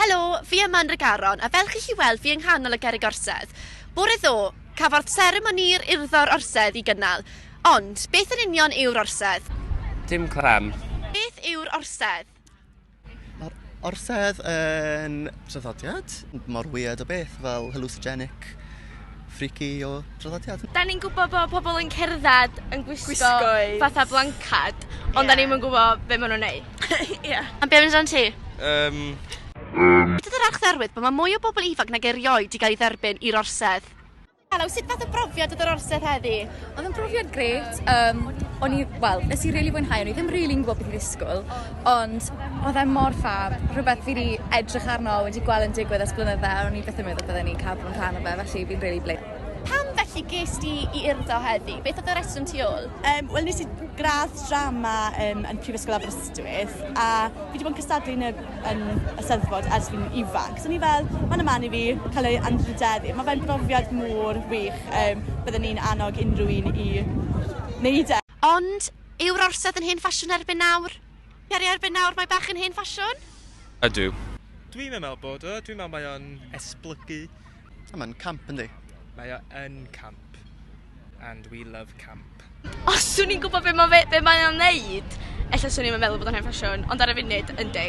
Helo, fi yma yn Regaron a fel chi'n gallu weld fi yng nghanol y gerrig orsedd. Bore ddo, cafodd seremoni'r urddo'r orsedd i gynnal. Ond, beth yn union yw'r orsedd? Dim clem. Beth yw'r orsedd? Mae'r orsedd yn traddodiad mor weird o beth, fel hallucinogenic, freaky o traddodiad. Da ni'n gwybod bod pobl yn cerdded yn gwisgo, gwisgo fatha blancad, ond yeah. da ni'n gwybod beth maen nhw'n neud. Ie. Am beth amdano ti? Um... Um... Dydy'r archdderwydd bod mae mwy o bobl ifanc nag erioed i gael ei dderbyn i'r orsedd. Helo, sut fath o brofiad oedd yr orsedd heddi? Oedd yn brofiad gret. Um, o'n i, wel, nes i rili really fwynhau, o'n i ddim rili really yn gwybod beth i'n ddisgwyl, ond oedd e mor ffab, rhywbeth fi wedi edrych arno, wedi gweld yn digwydd ers blynydde, o'n i beth yn meddwl byddwn ni'n cael bod yn rhan o fe, felly fi'n rili really bleid. Pam felly ges di i urdo heddi? Beth oedd y reswm tu ôl? Um, Wel, nes i gradd drama um, yn Prifysgol Aberystwyth, a fi wedi bod yn cystadlu yn y yn y Steddfod ers fi'n ifanc. So o'n i fel, ma' wnna mlan i fi, cael ei anrhyddeddu. Mae fe'n brofiad mor wych, yym bydden i'n annog unrhyw un i wneud e. Ond, yw'r orsedd yn hen ffasiwn erbyn nawr? Ie, erbyn nawr mae bach yn hen ffasiwn. Ydw. Dwi'm yn meddwl bod o, dwi'n meddwl mae o'n esblygu. A mae'n camp yndi? Mae o yn camp. And we love camp. Os swn i'n gwybod be mae be mae o'n neud, ella swn i'n meddwl bod o'n hen ffasiwn, ond ar y funud, yndi.